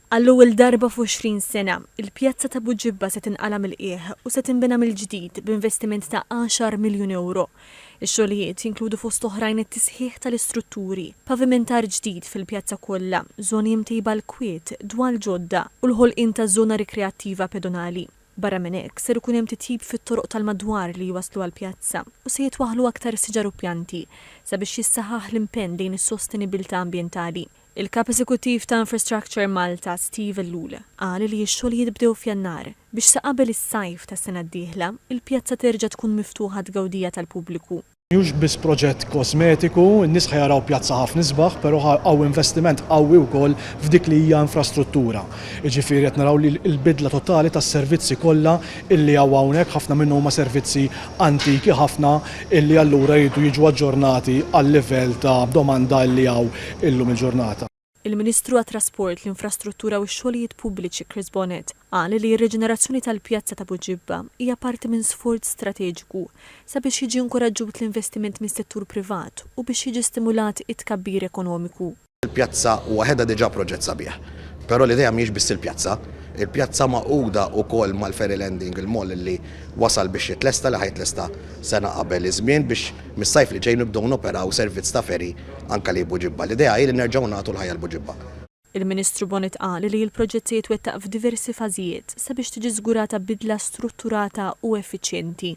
Għall-ewwel darba f'għoxrin sena, il-pjazza ta' Buġibba se tinqala' mill-qiegħ u se tinbena mill-ġdid b'investiment ta' għaxar miljun ewro. Ix-xogħlijiet jinkludu fost oħrajn it-tisħiħ tal-istrutturi, pavimentar ġdid fil-pjazza kollha, żoni imtejba għall-kwiet, dwal ġodda u l-ħolqien ta' żona rikreattiva pedonali. Barra minn hekk, ser ikun hemm titjib fit-toroq tal-madwar li jwasslu għall-pjazza u se jitwaħħlu aktar siġar u pjanti sabiex jissaħħaħ l-impenn lejn is-sostenibbiltà ambjentali. Il-Kap Eżekuttiv ta' Infrastructure Malta Steve Ellul qal li x-xogħlijiet bdew f'Jannar biex sa qabel is-sajf tas-sena d-dieħla l-pjazza terġa' tkun miftuħa għat-tgawdija tal-pubbliku. Mhux biss proġett kosmetiku, in-nies ħa jaraw pjazza ħafna isbaħ però ħa hawn investiment qawwi wkoll f'dik li hija infrastruttura. Jiġifieri qed naraw li l-bidla totali tas-servizzi kollha illi hawn hawnhekk ħafna minnhom huma servizzi antiki ħafna illi allura jridu jiġu aġġornati għal-livell ta' domanda illi hawn illum il-ġurnata. Il-Ministru għat-Trasport, l-Infrastruttura u x-Xogħlijiet Pubbliċi Chris Bonett qal li r-riġenerazzjoni tal-pjazza ta' Buġibba hija parti minn sforz strateġiku sabiex jiġi inkuraġġut l-investiment mis-settur privat u biex jiġi stimulat it-tkabbir ekonomiku. Il-pjazza waħedha diġà proġett sabiħ, però l-idea mhijiex biss il-pjazza. Il-pjazza magħquda wkoll mal-ferry landing, il-mall li wasal biex jitlesta, li ħa jitlesta sena qabel iż-żmien biex mis-sajf li ġej nibdew noperaw servizz ta' ferry Anke li Buġibba. L-idea hi li nerġgħu nagħtu l-ħajja 'l Buġibba. Il-Ministru Bonett qal li l-proġett se jitwettaq f'diversi fażijiet sabiex tiġi żgurata bidla strutturata u effiċjenti.